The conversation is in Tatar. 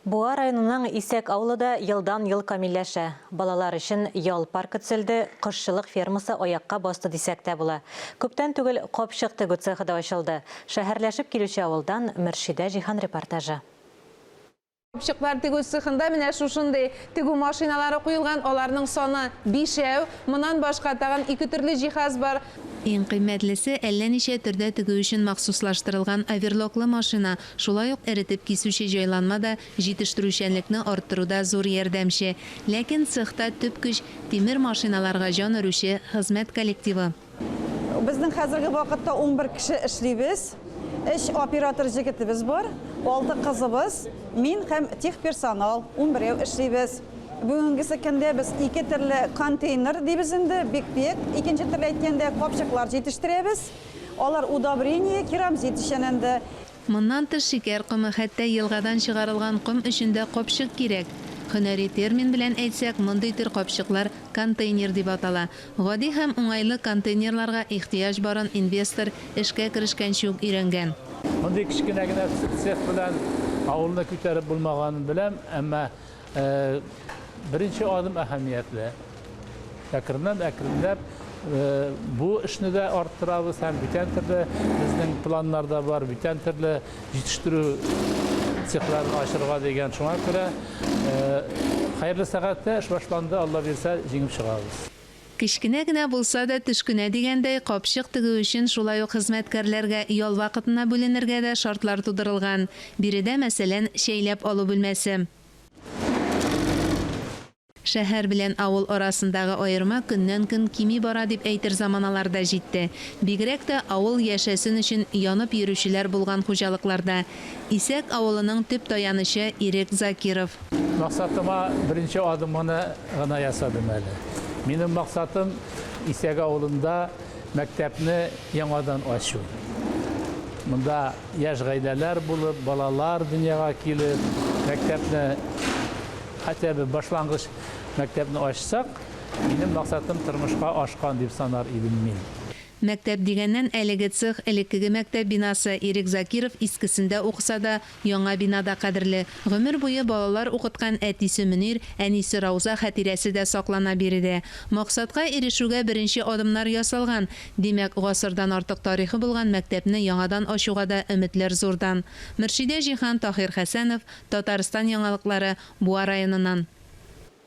Буа районының Исәк авылы да елдан-ел камилләшә. Балалар өчен ял паркы төзелде, кошчылык фермасы аякка басты дисәк тә була. Күптән түгел капчык тегү цехы да ачылды. Шәһәрләшеп килүче авылдан Мөршидә Җиһан репортажы. Капчыклар тегү цехында менә шушындый тегү машиналары куелган, аларның саны, бишәү. Монан башка тагын ике төрле җиһаз бар. Иң кыйммәтлесе, әллә ничә төрдә тегү өчен махсуслаштырылган оверлоклы машина. Шулай ук эретеп кисүче җайланма да җитештерүчәнлекне арттыруда зур ярдәмче. Ләкин цехта төп көч, тимер машиналарга җан өрүче хезмәт коллективы. Безнең хәзерге вакытта унбер кеше эшлибез. Өч оператор җегетебез бар, алты кызыбыз, мин һәм техперсонал, унберәү эшлибез. Бүгенгесе көндә без ике төрле контейнер, дибез инде, бик-бик, икенче төрле әйткәндә, капчыклар җитештерәбез. Алар удобрение, керамзит эчәнәнде. Моннан тыш шикәр комы, хәтта елгадан чыгарылган ком өчен дә капчык кирәк. Һөнәри термин белән әйтсәк, мондый төр капчыклар контейнер дип атала. Гади һәм уңайлы контейнерларга ихтыяҗ барын инвестор эшкә керешкәнче үк өйрәнгән. Мондый кечкенә генә цех белән авылны күтәреп булмаганын беләм, әмма Ә беренче адым әһәмиятле. Әкреннән, әкренләп бу эшне дә арттырабыз һәм бүтән төрле безнең планнарда бар, бүтән төрле җитештерү цехларын ачырга дигән. Шуңа күрә хәерле сәгатьтә эш башланды, Алла бирсә, җиңеп чыгабыз. Кечкенә генә булса да төшкенә дигәндәй, капчык тегү өчен шулай ук хезмәткәрләргә ял вакытына бүленергә дә шартлар тудырылган. Биредә, мәсәлән, чәйләп алу бүлмәсе. Шәһәр белән авыл арасындагы аерма көннән-көн кими бара дип әйтер заманалар да җитте. Бигрәк тә авыл яшәсен өчен янып йөрүчеләр булган хуҗалыкларда. Исәк авылының төп таянычы Ирек Закиров. Максатыма беренче адымны гына ясадым әле. Минем максатым, Исәк авылында мәктәпне яңадан ачу. Монда яшь гаиләләр булып, балалар дөньяга килеп, мәктәпне, хәтта бер башлангыч мәктәпне ачсак, минем максатым тормышка ашкан дип санар идем мин. Мәктәп дигәннән, әлеге цех, элеккеге мәктәп бинасы, Ирек Закиров искесендә укыса да, яңа бина да кадерле. Гомер буе балалар укыткан әтисе Мөнир, әнисе Рауза хәтирәсе дә саклана биредә. Максатка ирешүгә беренче адымнар ясалган. Димәк, гасырдан артык тарихы булган мәктәпне яңадан ачуга да өметләр зурдан. Мөршидә Җиһан, Таһир Хәсәнов, Татарстан яңалыклары, Буа районыннан.